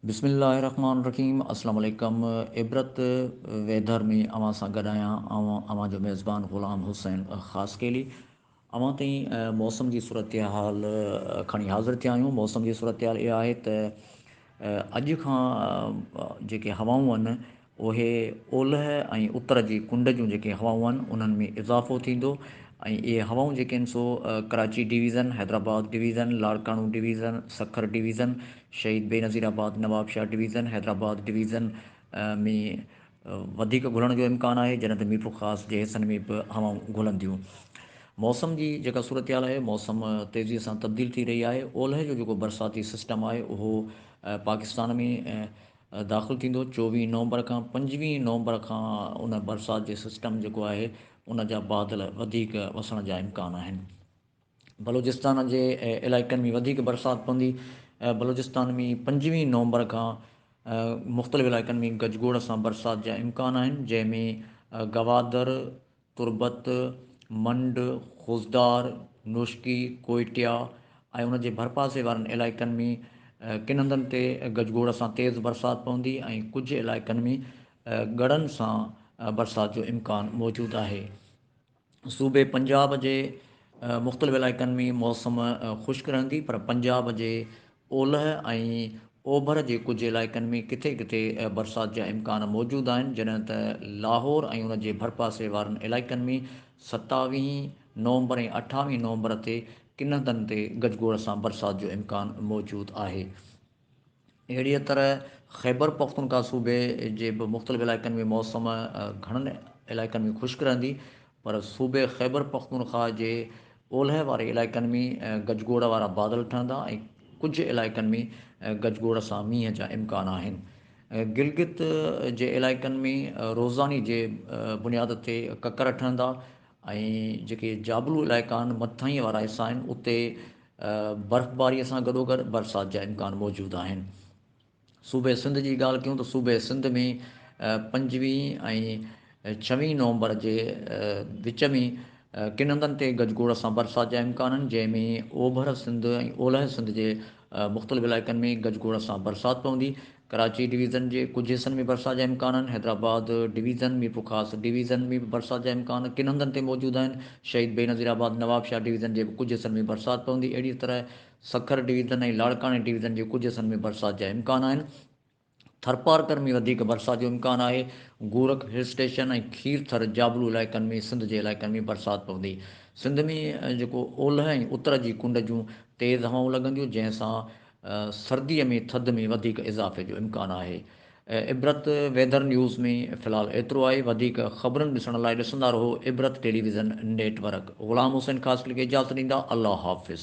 بسم الله الرحمن الرحيم السلام عليڪم عبرت ويدر ۾ اوهان سان گڏ آهيان آئون اوهان جو ميزبان غلام حسين خاصخيلي اوهان تائين موسم جي صورتحال کڻي حاضر ٿيا آهيون موسم جي صورتحال اها آهي ته اڄ کان جيڪي هوائون آهن اهي اولهه ۽ اتر جي ڪنڊ جون جيڪي هوائون آهن انهن ۾ اضافو ٿيندو ۽ اهي هوائون جيڪي آهن سو Karachi division Hyderabad division Larkana division Sukkur division Shaheed Benazirabad Nawabshah division Hyderabad division ۾ وڌيڪ گهلڻ جو امڪان آهي جڏهن ته ميٺو خاص جي حصن ۾ به هوائون گهلن ٿيون موسم جي جيڪا صورتحال آهي موسم تيزي سان تبديل ٿي رهي آهي اولهه جو جيڪو برساتي سسٽم آهي اهو پاڪستان ۾ داخل ٿيندو چوويهه نومبر کان پنجويهه نومبر کان ان برسات جي سسٽم جيڪو آهي ان جا بادل وڌيڪ وسڻ جا امڪان آهن بلوچستان جي علائقن ۾ وڌيڪ برسات پوندي، بلوچستان ۾ پنجويهه نومبر کان مختلف علائقن ۾ گجگوڙ سان برسات جا امڪان آهن، جنهن ۾ گوادر، تربت، منڊ، خضدار، نوشڪي، ڪوئٽيا ۽ ان جي ڀرپاسي وارن علائقن ۾ ڪن هنڌن تي گجگوڙ سان تيز برسات پوندي ۽ ڪجهه علائقن ۾ ڳڙن سان برسات جو امڪان موجود آهي. صوبي پنجاب جي مختلف علائقن ۾ موسم خشڪ رهندي پر پنجاب جي اولهه ۽ اوڀر جي ڪجهه علائقن ۾ ڪٿي ڪٿي برسات جا امڪان موجود آهن جڏهن ته لاهور ۽ ان جي ڀرپاسي وارن علائقن ۾ ستاويهين نومبر ۽ اٺاويهين نومبر تي ڪن هنڌن تي گجگوڙ سان برسات جو امڪان موجود آهي. اهڙيء طرح خيبر پختونخوا صوبي جي به مختلف علائقن ۾ موسم گهڻن علائقن ۾ خشڪ رهندي پر صوبي خيبر پختونخوا جي اولهه واري علائقن ۾ گجگوڙ وارا بادل ٺهندا ۽ ڪجهه علائقن ۾ گجگوڙ سان مينهن جا امڪان آهن گلگت جي علائقن ۾ روزاني جي بنياد تي ڪڪر ٺهندا ۽ جيڪي جابلو علائقا آهن مٿاهين وارا حصا آهن اتي برفباريء سان گڏوگڏ برسات جا امڪان موجود آهن. صوبي سنڌ جي ڳالهه ڪيون ته صوبي سنڌ ۾ پنجويهه ۽ ڇويهه نومبر جي وچ ۾ ڪن هنڌن تي گجگوڙ سان برسات جا امڪان آهن، جنهن ۾ اوڀر سنڌ ۽ اولهه سنڌ جي مختلف علائقن ۾ گجگوڙ سان برسات پوندي ڪراچي ڊويزن جي ڪجهه حصن ۾ برسات جا امڪان آهن، حيدرآباد ڊويزن، ميرپورخاص ڊويزن ۾ به برسات جا امڪان ڪن هنڌن تي موجود آهن، شهيد بينظير آباد، نوابشاهه ڊويزن جي به ڪجهه حصن ۾ برسات پوندي، اهڙيء طرح سکر ڊويزن ۽ لاڙڪاڻي ڊويزن جي ڪجهه حصن ۾ برسات جا امڪان آهن، ٿرپارڪر ۾ وڌيڪ برسات جو امڪان آهي، گورک هل اسٽيشن ۽ کير ٿر جابلو علائقن ۾ سنڌ جي علائقن ۾ برسات پوندي، سنڌ ۾ جيڪو اولهه ۽ اتر جي ڪنڊ جون تيز هوائون لڳنديون جنهن سان سردي ۾ ٿڌ ۾ وڌيڪ اضافي جو امڪان آهي عبرت ويڌر نيوز ۾ في الحال ايترو آهي وڌيڪ خبرن ڏسڻ لاء ڏسندا رهو Ibrat television network Ghulam Hussain Khaskheli کي اجازت ڏيندا الله حافظ.